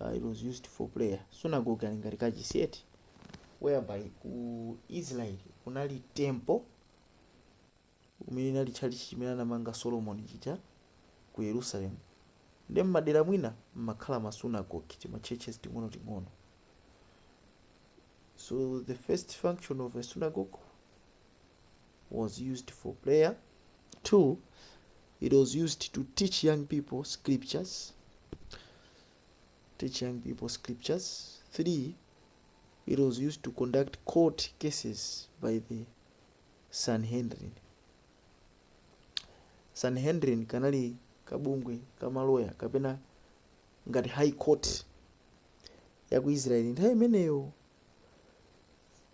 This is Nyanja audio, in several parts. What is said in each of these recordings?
uh, it was used for prayer sunagoge ali ngati kachisi eti whereby ku israel kunali temple umene inali tchalichi chimene anamanga solomon chija ku yerusalemu nde mmadera mwina mmakhala masunagoge timachurches ting'ono ting'ono so the first function of a synagogue was used for prayer two It was used to teach young people scriptures. Teach young people scriptures. Three, it was used to conduct court cases by the Sanhedrin. Sanhedrin kanali kabungwe ka maloya kapena ngati high court ya ku Israel nthawi imeneyo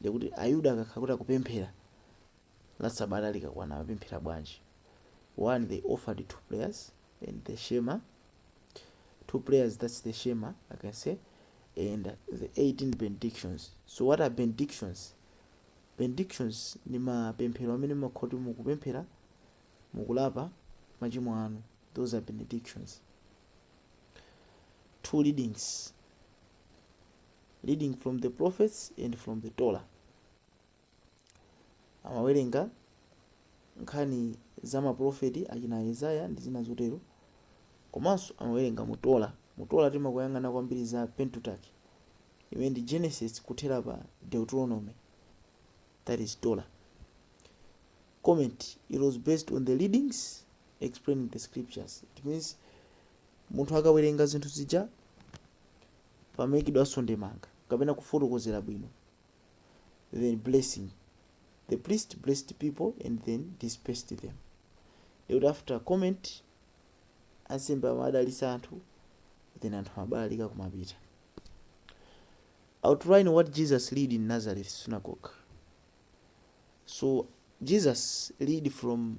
Ndiye kuti Ayuda akakhala kuti akupemphera la Sabata likakwana amapemphera bwanji? One, they offered two prayers and the Shema. Two prayers, that's the Shema, I can say, and the 18 benedictions. So what are benedictions? Benedictions ni mapemphero amene mumakhala kuti mukupemphera mukulapa machimo anu. Those are benedictions. Two readings. reading from the prophets and from the torah amawerenga nkhani za maprofeti achina isaya ndi zina zotero komanso amawerenga mu torah mu torah timakhala tikuyang'ana kwambiri za pentateuch imene ndi genesis kuthera pa deuteronomy that is torah comment it was based on the readings explaining the scriptures it means munthu akawerenga zinthu zija pamaikidwanso ndemanga kapena kufotokozera bwino then blessing the priest blessed people and then dispersed them ndikuti after comment ansembe amadalitsa anthu then anthu amabalalika kumapita outline what jesus read in nazareth synagogue so jesus read from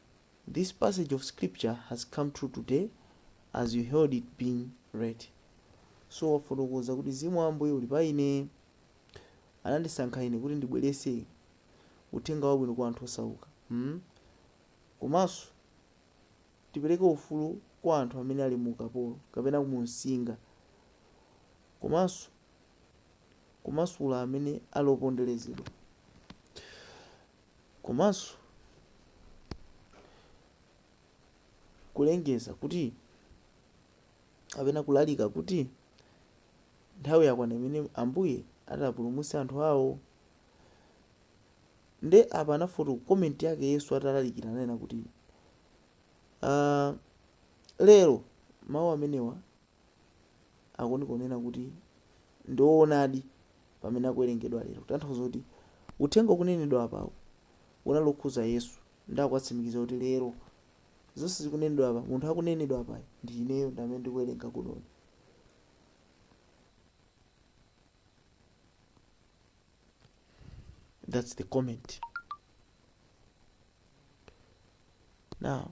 This passage of scripture has come true today as you heard it being read. So wafotokoza kuti Mzimu wa Ambuye uli pa ine. Anandisankha ine kuti ndibweretse uthenga wabwino kwa anthu osauka. Hmm? Komanso ndipereke ufulu kwa anthu amene ali mu ukapolo kapena mumsinga. Komanso kumasula amene ali oponderezedwa. komanso kulengeza kuti kapena kulalika kuti nthawi yakwana imene ambuye atapulumutse anthu awo nde apa anafoto comment yake yesu atalalikira ananena kuti uh, lero mawu amenewa akuunika kunena kuti ndi oonadi pamene akuwerengedwa lero kutanthauza kuti uthenga ukunenedwa apawu unali okhuza yesu ndi akuwatsimikiza kuti lero zonse zikunenedwa apa munthu akunenedwa apayi ndi ineyo ndi amene ndikuwerenga kunoyi that's the comment now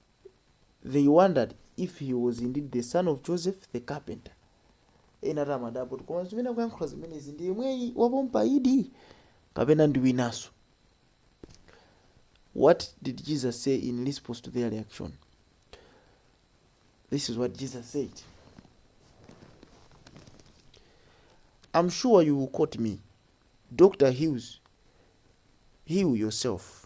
they wondered if he was indeed the son of Joseph the carpenter. Ena ati amadabwa kuti koma zimene akuyankhula zimenezi ndi yemweyi wapompa idi kapena ndi winanso. What did Jesus say in response to their reaction? This is what Jesus said. I'm sure you will quote me. Doctor, he- heal yourself.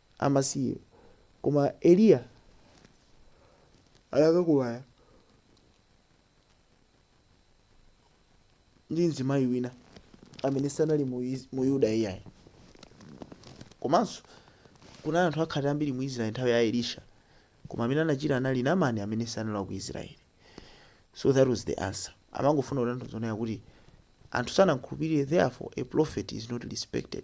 amasiye. Koma Eliya anakakumana ndi mzimayi wina amene sanali mu Is- mu Yuda iyayi. Komanso kunali anthu akhate ambiri mu Israeli nthawi ya Elisha. Koma amene anachira anali Namani amene sanali wa ku Israeli. So that was the answer. Amangofuna kutanthauza kuti anthu sanamkhulupirire therefore a prophet is not respected.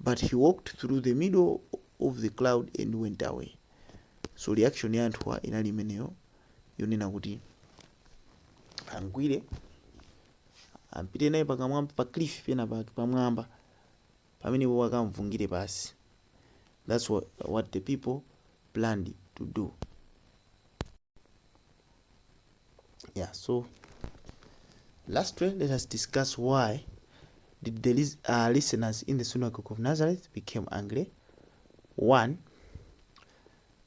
But he walked through the middle of the crowd and went away. So reaction ya anthuwa inali imeneyo yonena kuti amgwire ampite naye pakamwamba pa cliff pena pake pamwamba pamene iwo akamvungire pansi. That's what, what the people planned to do. yeah so lastly let us discuss why did the lis- uh, listeners in the synagogue of nazareth became angry one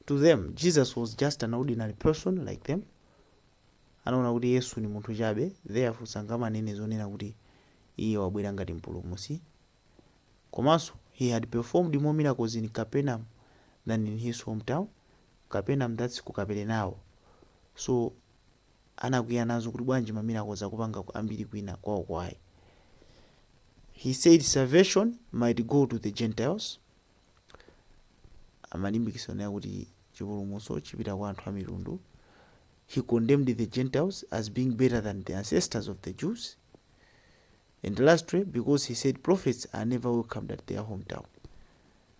to them jesus was just an ordinary person like them anaona kuti yesu ni munthu chabe therefore sangamanene zonena kuti iye wabwera ngati mpulumusi komanso he had performed more miracles in capernaum than in his hometown capernaum that's ku kaperenao so anakwiya nazo kuti bwanji ma miracles akupanga ambiri kwina kwawoko ayi he said salvation might go to the gentiles amalimbikitsa kunena kuti chipulumutso chipita kwa anthu a mitundu he commended the gentiles as being better than the ancestors of the jews and lastly because he said prophets are never welcomed at their hometown